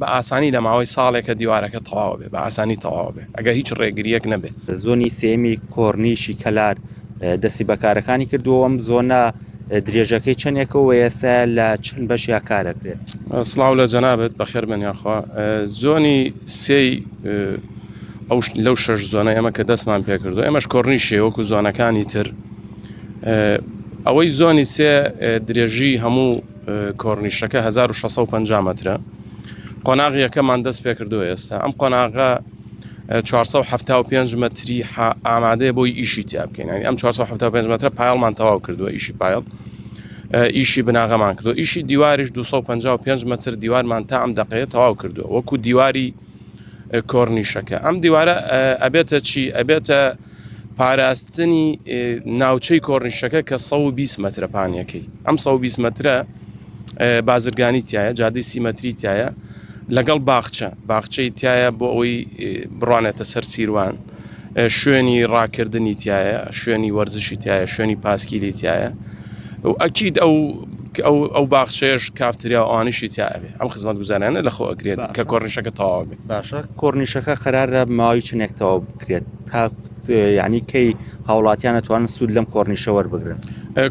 بە ئاسانی لە ماوەی ساڵێکە دیوارەکە تەواوە بێ بە ئاسانی تەواوە بێ ئەگە هیچ ڕێگریەک نەبێ. زۆنی سێیەمی کۆرنیشی کەلار دەستی بەکارەکانی کردووەم زۆنە درێژەکەی چەندێکە و ئێستا لە چەند بەشیا کارەکرێت سلااو لە جەنابێت بەخێر بن یاخوا زۆنی سێ ئەو لەو شەش زۆنە ئەمە کە دەستمان پێکردو ئەمەش کۆرنی شێوەکو زۆنەکانی تر ئەوەی زۆنی سێ درێژی هەموو کۆرنیشەکە هەزار و شەسە و پەنجا مەترە. قۆناغ یەکەمان دەست پێکردووە ئێستا. ئەم قۆناغە ە چوارسە و حەفتا و پێنج مەتری ح ئامادەیە بۆی ئیشی تیا بکەین. یانی ئەم چوارسە و حەفتا و پێنج مەترە پایەڵمان تەواو کردووە ئیشی پایەڵ. ئیشی بناغەمان کردو ئیشی دیواریش 255 متر دیوارمان تا ئەم دقەیە تەواو کردووە وەکو دیواری کۆرنیشەکە ئەم دیوارە ئەبێتە چی ئەبێتە پاراستنی ناوچەی کۆرنیشەکە کە 120 مەترە پانیەکەی ئەم 120 مەترە بازرگانی تایە جادی سی مەتری تایە لەگەڵ باخچە باخچەی تایە بۆ ئەوەی بڕوانێتە سەر سیروان شوێنی ڕاکردنی تایە شوێنی وەرزشی تایە شوێنی پاسکیلی تایە و ئەکیید ئەو ئەو باخچێش کافتریا ئەوانیشی تیاێ ئەم خزمەت گوزانانە لەخۆ ئەگرێت کە کۆرنیشەکە تەواو بێت باشە کۆرنیشەکە قەرارە ماوەی چنێکتەوە کرێت تا یعنی کەی هاوڵاتیان ئەتوانن سوود لەم کۆرنیشە وەربگرن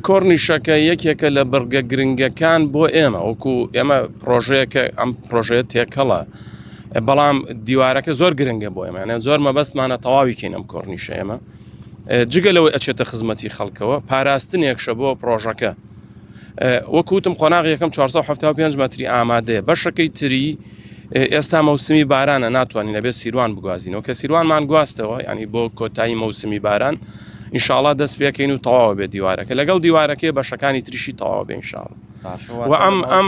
کۆرنیشەکە یەکێکە لە بڕگە گرنگەکان بۆ ئێمە وەکو ئێمە پرۆژەیەکە ئەم پرۆژەیە تێکەڵە بەڵام دیوارەکە زۆر گرنگە بۆ ئێمەیانە زۆر مەبەستمانە تەواوی کەین ئەم کۆرنیشە ئێمە جگە لەوەی ئەچێتە خزمەتی خەڵکەوە پاراستنێکشە بۆ پرۆژەکە وەک وتم قۆناغ یەکەم 475 مەتری ئامادەیە بەشەکەی تری ئێستا مەوسمی بارانە ناتوانین لەبێت سیروان بگوازینەوە کە سیروانمان گواستەوە ینی بۆ کۆتایی مەوسمی باران ئینشاالله دەست پێکەین و تەواو بێت دیوارەکە لەگەڵ دیوارەکەی بەشەکانی تریشی تەواو بێنشاڵ و ئەم ئەم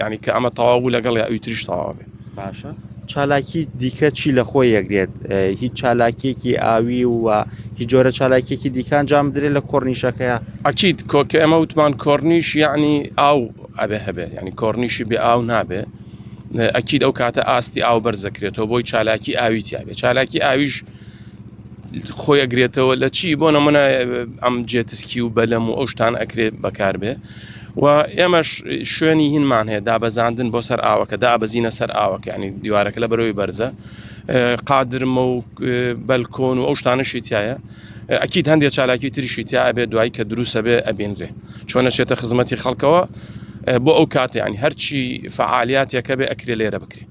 یعنی کە ئەمە تەواو بوو لەگەڵ یا ئەوی تریش تەواو بێ باشە چالاکی دیکە چی لە خۆی یەکرێت هیچ چالاکیەکی ئاوی و هی جۆرە چالاکیەکی دیکان جام درێت لە کۆرنیشەکەیە ئەکییت کۆکە ئەمە وتمان کۆرنیش یعنی ئاو ئەبێ هەبێ ینی کۆرنیشی بێ ئاو نابێ ئەکیید ئەو کاتە ئاستی ئاو بەرزەکرێتەوە بۆی چالاکی ئاوی تیاێ چالاکی ئاویش خۆی ئەگرێتەوە لە چی بۆ نەمەە ئەم جێتسکی و بەلەم و ئەوشتان ئەکرێت بەکاربێ و ئێمەش شوێنی هینمان هەیە دابەزاندن بۆ سەر ئاوەکە دابەزینە سەر ئاوەکانی دیوارەکە لە بەرەوەی بەرزە قادرمە و بەلکۆن و ئەو شتانەشی تایە ئەکیید هەندێک چالاکی تریشی تیا ئەبێ دوایی کە دروسە بێ ئەبینرێ چۆن نەچێتە خزمەتی خەڵکەوە بۆ ئەو کاتیانی هەرچی فعالیاتێکە بێ ئەکرێ لێرە بکرێت